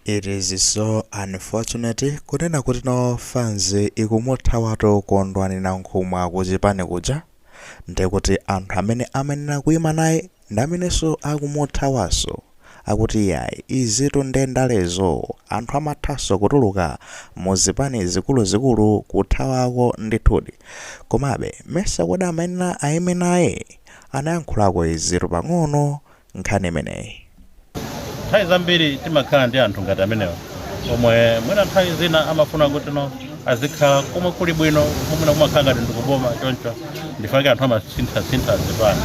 It is so unfortunate kunena kuti no fans ikumuthawatu Kondwani Nankhumwa kuchipani kuja ndekuti anthu amene amanena kuima naye ndi amenenso akumuthawanso akuti yayi izitu nde ndalezo anthu amathanso kutuluka muzipani zikuluzikulu kuthawako ndithudi komabe mesa kodi amanena aime naye anayankhulako izitu pang'ono nkhani imeneyi. Nthawi zambiri timakhala ndi anthu ngati amenewa omwe mwina nthawi zina amafuna kuti no azikhala komwe kuli bwino momwe kumakhala ngati ndikuboma choncho ndifake anthu amasinthasintha zipani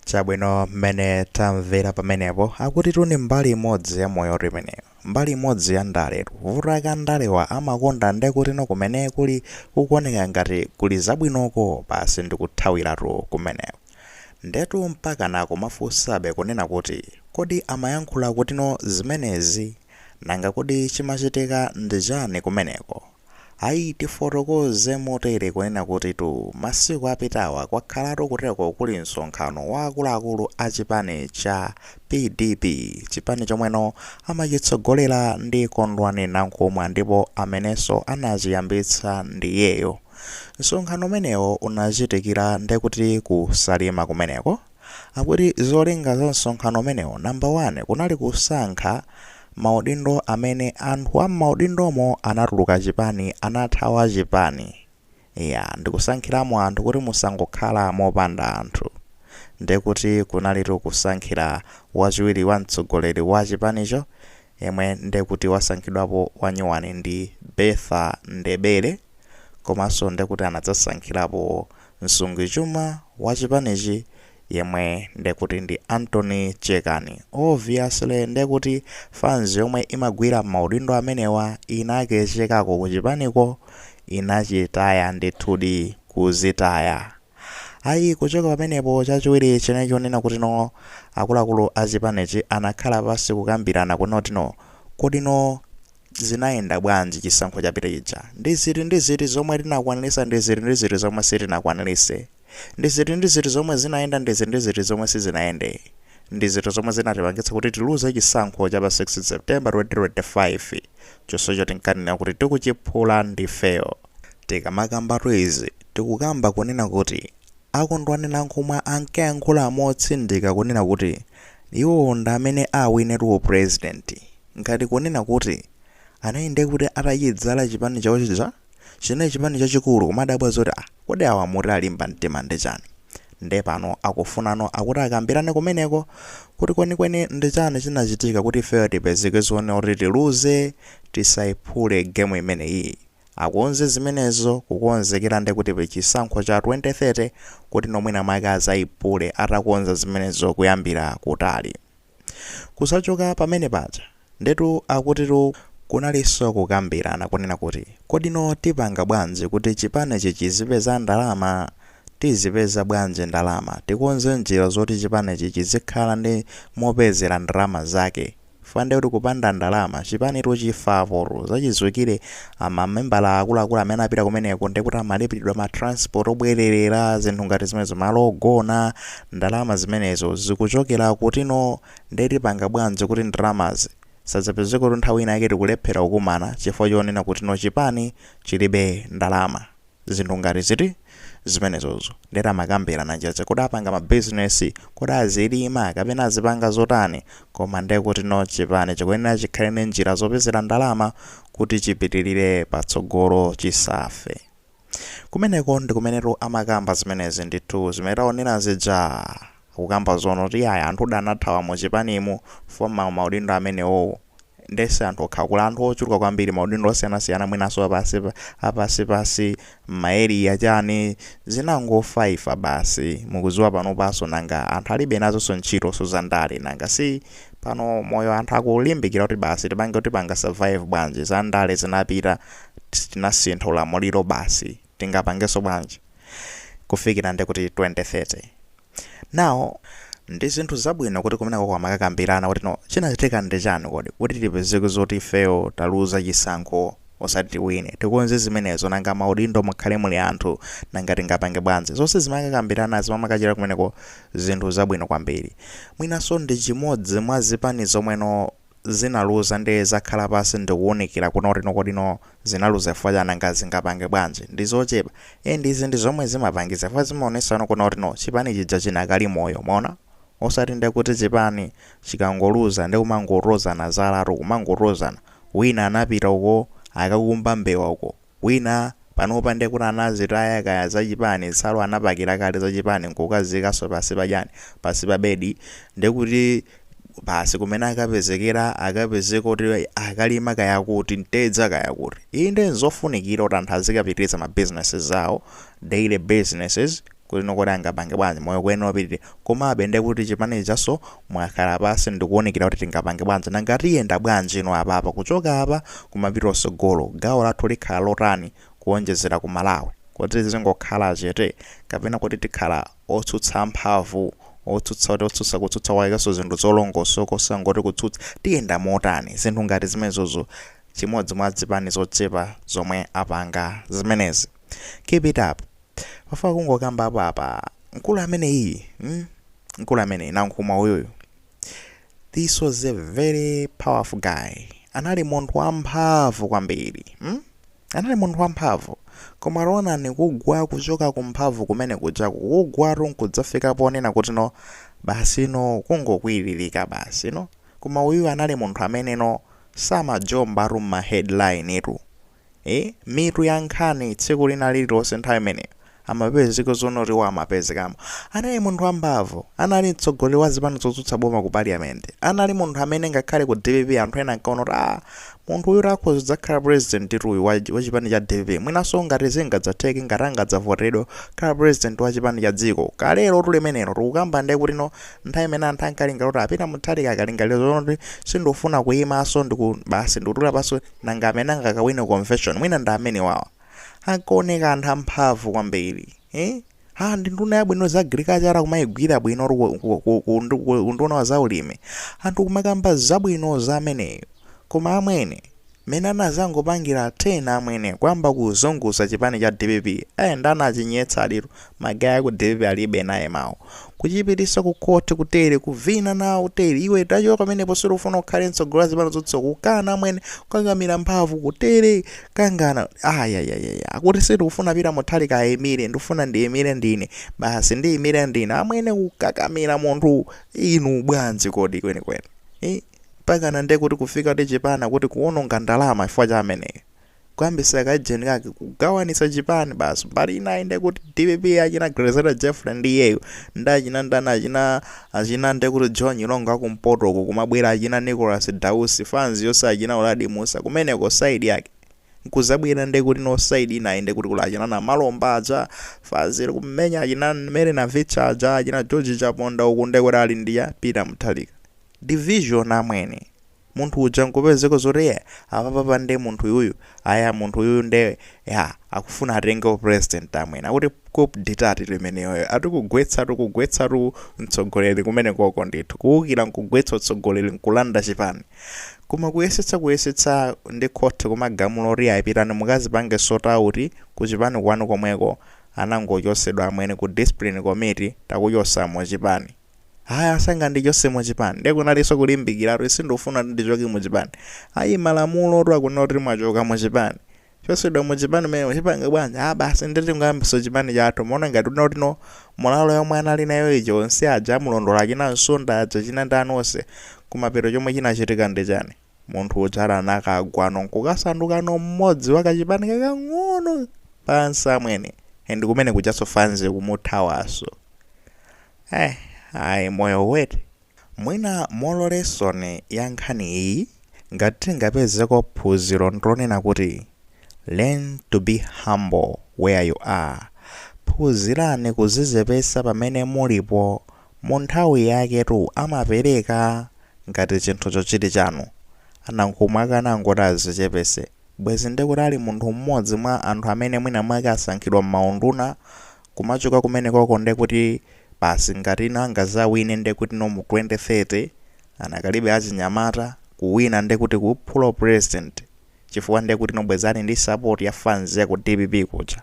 Chabwino mmene tamvera pamenepo akutitu ni mbali imodzi ya moyotu imeneyo. Mbali imodzi ya ndaletu. Vuto lake andalewa amakonda nde kuti no kumene kuli kukuoneka ngati kuli zabwinoko basi ndikuthawiratu kumeneko. Ndetu mpakana nkumafunsabe kunena kuti kodi amayankhula kutino zimenezi? Nanga kodi chimachitika ndi chani kumeneko? Ayi tifotokoze motere kunena kutitu masiku apitawa kwakhalatu kuteko kuli msonkhano wa akuluakulu a chipani cha PDP, chipani chomweno amachitsogolera ndi Kondwani Nankhumwa ndipo amenenso anachiyambitsa ndiyeyo. Msonkhano umenewo unachitikira nde kuti ku Salima kumeneko. Akuti zolinga za msonkhano umenewo number one kunali kusankha maudindo amene anthu a m'maudindomo anatuluka chipani anathawa chipani. Eya ndikusankhiramo anthu kuti musangokhala mopanda anthu. Nde kuti kunalitu kusankhira wachiwiri wa mtsogoleri wa chipanicho yemwe nde kuti wasankhidwapo wanyuwani ndi Bertha Ndebele komanso nde kuti anadzasankhirapo msungichuma wa chipanichi yemwe nde kuti ndi Anthony Chekani. Obviously nde kuti fans yomwe imagwira mmaudindo amenewa inakechekako kuchipaniko inachitaya ndithudi kuzitaya. Ayi, kuchoka pamenepo chachiwiri chinali chonena kutino akuluakulu a chipanichi anakhala pansi kukambirana kunena kutino kodino zinayenda bwanji chisankho chapita chija, ndi ziti ndi ziti zomwe tinakwaniritsa ndi ziti ndi ziti zomwe sitinakwaniritse, ndi ziti ndi ziti zomwe zinayenda ndi ziti ndi ziti zomwe sizinayende, ndi ziti zomwe zinatipangitsa kuti tiluze chisankho cha pa 16 September 2025 chonsecho tinkanena kuti tikuchiphula ndifeyo. Tikamakambatu izi, tikukamba kunena kuti a Kondwani Nankhumwa ankayankhula motsindika kunena kuti iwowo ndi amene awinetu u president, ngati kunena kuti anali nde kuti atachidzala chipani chawo chija, chinali chipani chachikulu kumadabwa zoti ah kodi awa mtima alimba mtima ndi chani? Nde pano akufunano akuti akambirane kumeneko kuti kwenikweni ndi chani chinachitika kuti ifeyo tipezeke zoona kuti tiluze, tisaiphule game imeneyiyi. Akonze zimenezo kukonzekera nde kuti pachisankho cha 2030 kuti no mwina mwake azaiphule atakonza zimenezo kuyambira kutali. Kusachoka pamene paja ndetu akutitu kunalinso kukambirana kunena kuti kodi no tipanga bwanji kuti chipanichi chizipeza ndalama? Tizipeza bwanji ndalama? Tikonze njira zoti chipanichi chizikhala ndi mopezera ndalama zake. Chifukwa ndekuti kupanda ndalama chipanitu chifa apotu zachidziwikire amamembala akuluakulu amene apita kumeneko ndekuti amalipiridwa ma transport obwererera zinthu ngati zimenezo malo ogona ndalama zimenezo zikuchokera kuti no nde tipanga bwanji kuti ndalamazi zisadzapezeketu nthawi ina yake tikulephera kukumana chifukwa chonena kuti no chipani chilibe ndalama. zinthu ngati ziti zimenezozo ndetu amakambirana njira zake kodi apanga ma business kodi azilima kapena azipanga zotani koma ndekuti no chipani chikuyenera chikhale ndi njira zopezera ndalama kuti chipitirire patsogolo chisafe kumeneko ndikumenetu amakamba zimenezi ndithu zimene taonera zija Akukamba zonena kuti ayi anthu udaanathawa mu chipanimu chifukwa mmaudindo amenewowo nde si anthu okhawa kuli anthu ochuluka kwambiri maudindo osiyanasiyana mwinanso apansipansi mma area chani zinangofaifa basi mukuziwa panopanso nanga anthu alibe nazonso ntchitonso za ndale nanga si pano moyo anthu akulimbikira kuti basi tipange tipanga survive bwanji za ndale zinapita tinasintha ulamuliro basi tingapangenso bwanji kufikira nde kuti 2030 now ndi zinthu zabwino kuti kumeneko amakakambirana kuti no chinachitika ndi chani kodi kuti tipezeke zoti ifeyo taluza chisankho osati tiwine tikonze zimenezo nanga maudindo mukhale muli anthu nanga tingapange bwanji zonse zimakakambirana zimakathera kumeneko zinthu zabwino kwambiri mwinanso ndi chimodzi mwa zipani zomwe no zinaluza nde zakhala pansi ndikuunikira kunena kuti kodi no zinaluza chifukwa chani nanga zingapange bwanji ndizochepa and izi ndizomwe zimapangisa chifukwa zimaonesa no kunena kuti no chipani chija chinakali moyo mwaona osati nde kuti chipani chikangoluza nde kumangolozana zalatu kumangolozana wina anapita uko akakumba mbewa uko Wina panopa nde kuti anazitaya kaya za chipani nsalu anapakira kale za chipani nkukaziikaso pansi pa chani? pansi pa bedi nde kuti basi kumene akapezekera akapezeka kuti akalima kaya kuti mtedza kaya kuti. Iyi ndi zofunikira kuti anthu azikapitiriza ma businesses awo, daily businesses, kuti nokoti angapange bwanji moyo kuyenera upitire komabe ndiye kuti chipani chijaso mwakhala pansi ndikuwunikira kuti tingapange bwanji nanga tiyenda bwanji inu apapa kuchoka apa kumapita kutsogolo gawo lathu likhala lotani kuwonjezera ku Malawi kodi tizingokhala chete kapena kodi tikhala otsutsa amphamvu otsutsa koma otsutsa kutsutsa kwakeso zinthu zolongosoka osangoti kutsutsa tiyenda motani zinthu ngati zimenezozo chimodzi mwa zipani zochepa zomwe apanga zimenezi keep it up. Pafuna kungokambapo apa. Mkulu ameneyi, mm? Mkulu ameneyi Nankhumwa uyuyu. This was a very powerful guy. Anali munthu wamphamvu kwambiri. Mm? Anali munthu wamphamvu. Koma onani kugwa kuchoka kumphamvu kumene kujaku kugwatu nkudzafika ponena kuti no basi no kungokwiririka basi no. Koma uyu anali munthu amene no samajombatu m'ma headline tu. ee mitu ya nkhani tsiku lina lililonse nthawi imeneyo amapezeka zoona kuti iwo amapezekamo anali munthu wamphamvu anali mtsogoleri wa zipani zotsutsa boma ku parliament anali munthu amene ngakhale ku dpp anthu ena ankaona kuti ah munthu uyu akhoza kudzakhala president uyu wa, wa chipani cha dpp mwinanso ngati zingadzatheke ngati angadzavoteredwe kukhala president wa chipani cha dziko koma lerotu limenero tikukamba ndiye kuti no nthawi imene anthu ankalingalira kuti a Peter Mutharika akalingalira zoona kuti sindikufuna kuyimanso ndiku basi ndikutula pansi Nanga amene angakawine convention mwina ndi amenewawa. Ankaoneka anthu amphamvu kwambiri. Eeh haa ndi nduna yabwino za agriculture kumayigwira bwino or ku, ku, ku, ku, ndu- ku unduna wa zaulimi. Anthu kumakamba zabwino za ameneyo. Koma amwene mene anazangopangira 10 amwene kuyamba kuzunguza chipani cha dpp. Eh nde anachinyetsaditu. ma guy aku dpp alibe naye mawu kuchipitisa ku court kutere kuvina nawo kutere iwe tachoka pamenepo sitikufuna ukhale mtsogoleri wa zipani zotsutsa kukana amwene kukangamira mphamvu kutere kangana ayayayaya akuti sindikufuna Peter Mutharika ayimire ndifuna ndiyimire ndine basi ndiyimire ndine amwene kukakamira munthu inu bwanji kodi kwenikweni Eh, mpakana nde kuti kufika kuti chipani kuti kuononga ndalama chifukwa cha ameneyo kuyambitsa kajeni kake kugawanisa chipani basi mbali inayi nde kuti dpp achina Grezelder Jeffrey ndi iyeyo ndi achina ndani achina achina nde kuti Joe Nyirongo akumpoto uko kumabwera achina Nicholas Dausi fanz yonse achina Uladi Mussa kumeneko side yake nkuzabwera nde kuti no side inayi nde kuti kuli achina Namalomba aja fanz ili kumenya achina Mary Navicha aja achina George Chaponda uku nde kuti ali ndi ya Peter Mutharika division amwene munthu uja nkupezeka zoti eh apapapa nde munthu uyuyu aya munthu uyuyu nde akufuna atenge upresident amwene akuti coup d'etat tu imeneyoyo ati kugwetsatu kugwetsatu mtsogoleri kumenekoko ndithu kuwukira nkugwetsa utsogoleri nkulanda chipani koma kuyesetsa kuyesetsa ndi court kumagamula oti ayi pitani mukazipange sort out kuchipani kwanu komweko anangochosedwa amwene ku discipline committee takuchotsani muchipani Ayi asangandichose mu chipani. Nde kunalinso kulimbikira kuti sindikufuna kuti ndichoke mu chipani. Ayi malamulotu akunena kuti mwachoka mu chipani. Chosedwa mu chipani mmene muchipanga bwanji? Ah basi nde tingoyambiso chipani chathu. Muona ngati kuti kuti no moralo yomwe anali nayo ija onse aja amulondola achina Nsonda aja achina ndani onse. Kumapeto chomwe chinachitika nchani? Munthu uja anakagwa no nkukasanduka no mmodzi wa kachipani kakang'ono pansi amwene. And kumene kujanso fanzi ikumuthawanso. Eh ayi moyo weti. Mwina moral lesson ya nkhani iyi ngati tingapezeko phunziro ndilonena kuti learn to be humble where you are phunzirani kuzizepesa pamene mulipo munthawi yake tu amapereka ngati chinthucho chili chanu Nankhumwa akanangoti azichepese bwezi ndikuti ali munthu mmodzi mwa anthu amene mwina mwake asankhidwa mmaunduna Kumachoka kumenekoko ndekuti basi ngatino angazawine ndekutino mu 2030 anakalibe achinyamata, kuwina ndekuti kuphula upresident chifukwa ndekutino bwezi ali ndi support ya fans yaku dpp kuja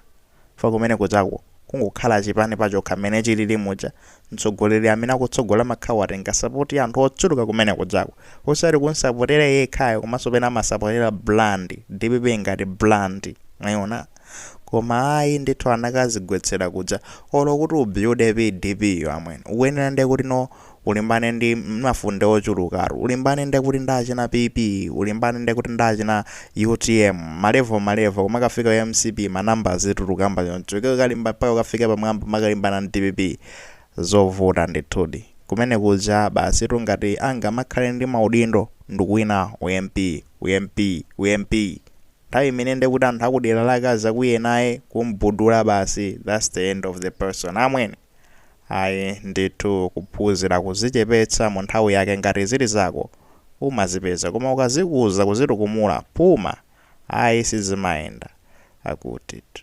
chifukwa kumenekujako kungokhala chipani pachokha mmene chilili muja mtsogoleri amene akutsogola amakhala watenga support ya anthu ochuluka kumenekujako osati kumsapotera iye yekhayo komanso pena amasapotera brand dpp ngati brand mwayiona Koma ayi ndithu anakazigwetsera kuja. Olo kuti ubuilde PDP yo amwene. Ukuyenera ndekuti no ulimbane ndi mafunde ochulukatu. Ulimbane ndekuti ndi achina PP, ulimbane ndekuti ndi achina utm, malevo malevo kumakafika ku mcp ma number azituluka mwamba choncho. Iwe ukalimba mpaka ukafike pamwamba uzikalimbana ndi dpp. Zovuta ndithudi. Kumene kuja basitu ngati angamakhale ndi maudindo ndikuwina u MP, u MP, u MP. Nthawi imene nde kuti anthu akudera lake azakwiye naye kumbudula basi that's the end of the person amwene ayi ndithu kuphunzira kuzichepetsa munthawi yake ngati zili zako umazipeza koma ukazikuza kuzitukumula phuma ayi sizimayenda akutitu